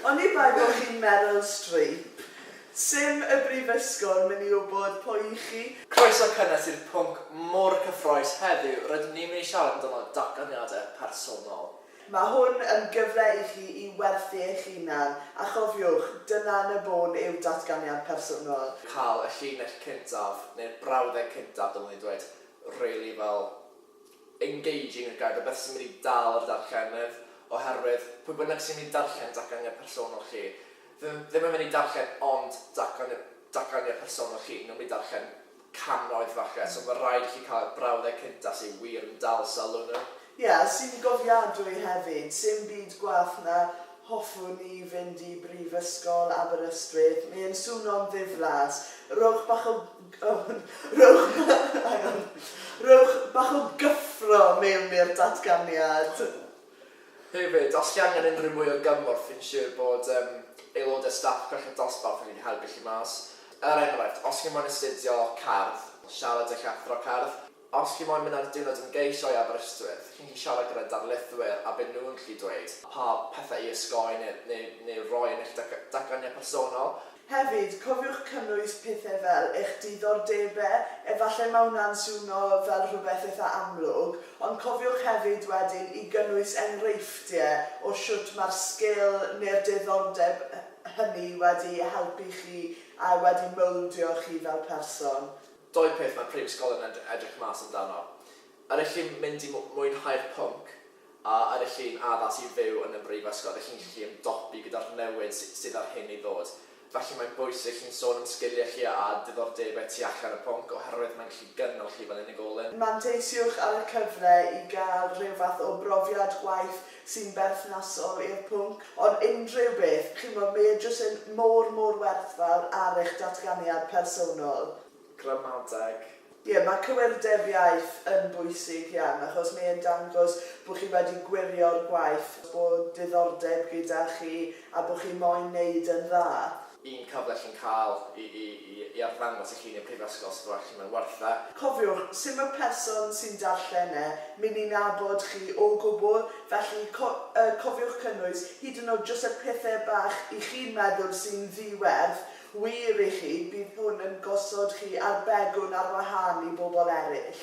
Oni bai bo chi'n Meryl Streep, sim y brifysgol myn i wbod pwy i chi. Croeso cynnes i'r pwnc mor cyffroes heddiw, rydyn ni'n mynd i siarad amdano datganiadau personol. Mae hwn yn gyfle i chi i werthu eich hunan, a chofiwch, dyna yn y bôn yw datganiad personol. Cael y llinell cyntaf, neu'r brawddeg cyntaf dylwn i ddweud, rili fel, engaging a guide, rhywbeth sy'n mynd i dal yr darllenydd, oherwydd pwy bynnag sy'n mynd i darllen datganiad personol chi, ddim ddim yn mynd i darllen ond datganiad datganiad personol chi, nhw'n mynd i darllen cannoedd falle, so ma' raid i chi cael y brawddeg cynta sydd wir yn dal sylw nhw. Ie, sy'n gofiadwy hefyd, sim byd gwell na hoffwn i fynd i Brifysgol Aberystwyth, mae e'n swno'n ddiflas, rhowch bach o Rhowch bach o gyffro mewn i'r datganiad. Hefyd, os chi angen unrhyw mwy o gymorth, fi'n siwr bod aelodau staff Cweched Dosbarth yn gallu helpu chi mas. Er enghraifft, os chi moyn astudio Cerdd, siarad â'ch athro cerdd. Os chi moyn mynd ar diwrnod ymgeisio i Aberystwyth, chi'n gallu siarad gyda darlithwyr a bydden nhw'n gallu dweud pa pethau i osgoi neu neu neu roi yn eich dag- dagganiad personol. Hefyd, cofiwch cynnwys pethau fel eich diddordebau, efallai mae hwnna'n swnio fel rhywbeth eitha' amlwg, ond cofiwch hefyd wedyn i gynnwys enghreifftiau o shwt mae'r sgil neu'r diddordeb hynny wedi helpu chi a wedi mouldio chi fel person. Dou peth mae prifysgol yn edrych mas amdano, yr ych chi'n mynd i mwynhau'r pwnc a yr ych chi'n addas i fyw yn y brifysgol, yr ych chi'n gallu ymdopi gyda'r newid sydd ar hyn i ddod. Felly mae'n bwysig i chi'n sôn am sgiliau chi a diddordebau tu allan y pwnc oherwydd mae'n gallu gynnal chi fel unigolyn. Manteisiwch ar y cyfle i gael rhyw fath o brofiad gwaith sy'n berthnasol i'r pwnc, ond unrhyw beth, chimod, mae e jyst yn mor, mor werthfawr ar eich datganiad personol. Gramadeg. Ie, mae cywirdeb iaith yn bwysig iawn, achos mae e'n dangos bod chi wedi gwirio'r gwaith, bod diddordeb gyda chi a bod chi moyn 'neud yn dda. Un cyfle chi'n cael i arddangos eich hun i'r Prifysgol sydd fel chi mae'n werth e. Cofiwch, sim y person sy'n darllen e myn i nabod chi o gwbl, felly cofiwch cynnwys hyd yn oed jyst y pethe bach i chi'n meddwl sy'n ddi werth wir i chi, bydd hwn yn gosod chi ar begwn ar wahân i bobl eraill.